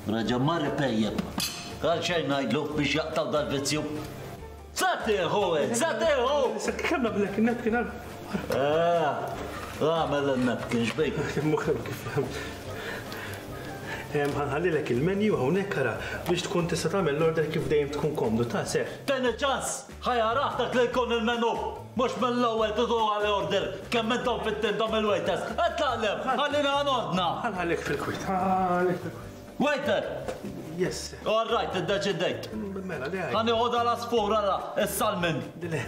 Reġa' mar ipejjep. Għal xejn ngħidlu biex jaqtaw dal-vizzju. Satiħu, satiħu! Sekk kemm nagħmlek in-napkin għal. Għamel eh, in-napkin xbejk. Muħem kif. Għanħallilek il-menu hawnhekk ara biex tkun tista' tagħmel l-order kif dejjem tkun komdu ta' seħ. Teni ċans! Ħa jagħraf dak li jkun il-menu! Mhux mill-ewwel tidu għali order kemm intom fit-tinda mill-waiters! Itlaq 'l hemm! Ħallina għan ordna! Ħa nħallih fil-kwiet, ħa nħallih fil-kwiet. Waiter! Yes, sir. All right, iddeċidejt. Mela, le. Ħa nieħu dal-għasfur ara, is-salmin. Le,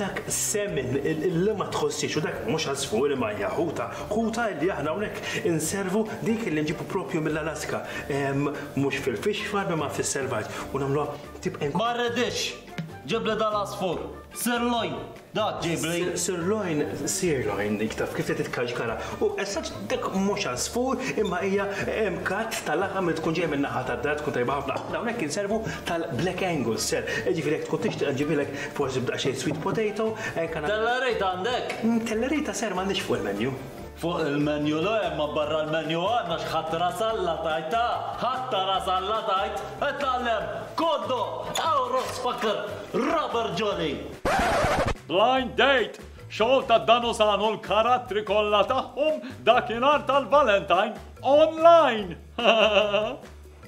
dak semin li ma tħossix u dak mhux għasfur imma hija ħuta. Ħuta li aħna hawnhekk inservu dik li nġibu propju mill-Alaska. Mhux fil-fishfar imma fis-selvaġġ u nagħmluha Tibqa' inkun. Ma rridhiex! Ġib li dal-għasfur! Sirloin! Dak ġib li. Sirloin, sirloin dik taf kif se titkaxkara. U assaġġ dak mhux għasfur imma hija katt ta' laħam li tkun ġejja min-naħa tad-dar tkun tajba ħafna. Aħna hawnhekk inservu tal-black angus ser, jiġifieri jekk tkun tixtieq nġibilek forsi b'daqsxejn sweet potato, hekk. Tellerita għandek? Tellerita ser m'għandix fuq il-menu. Fuq il-menu le, imma barra l-menu għandna x'ħadd ras Alla tgħid, ha! Ħadd ta' ras Alla tgħid! Itgħallem! Kondo! Awros Faker! Robert Joly! Blind Date, xogħol ta' Dan u San u l-karattri kollha tagħhom dakinhar tal-Valentine, online!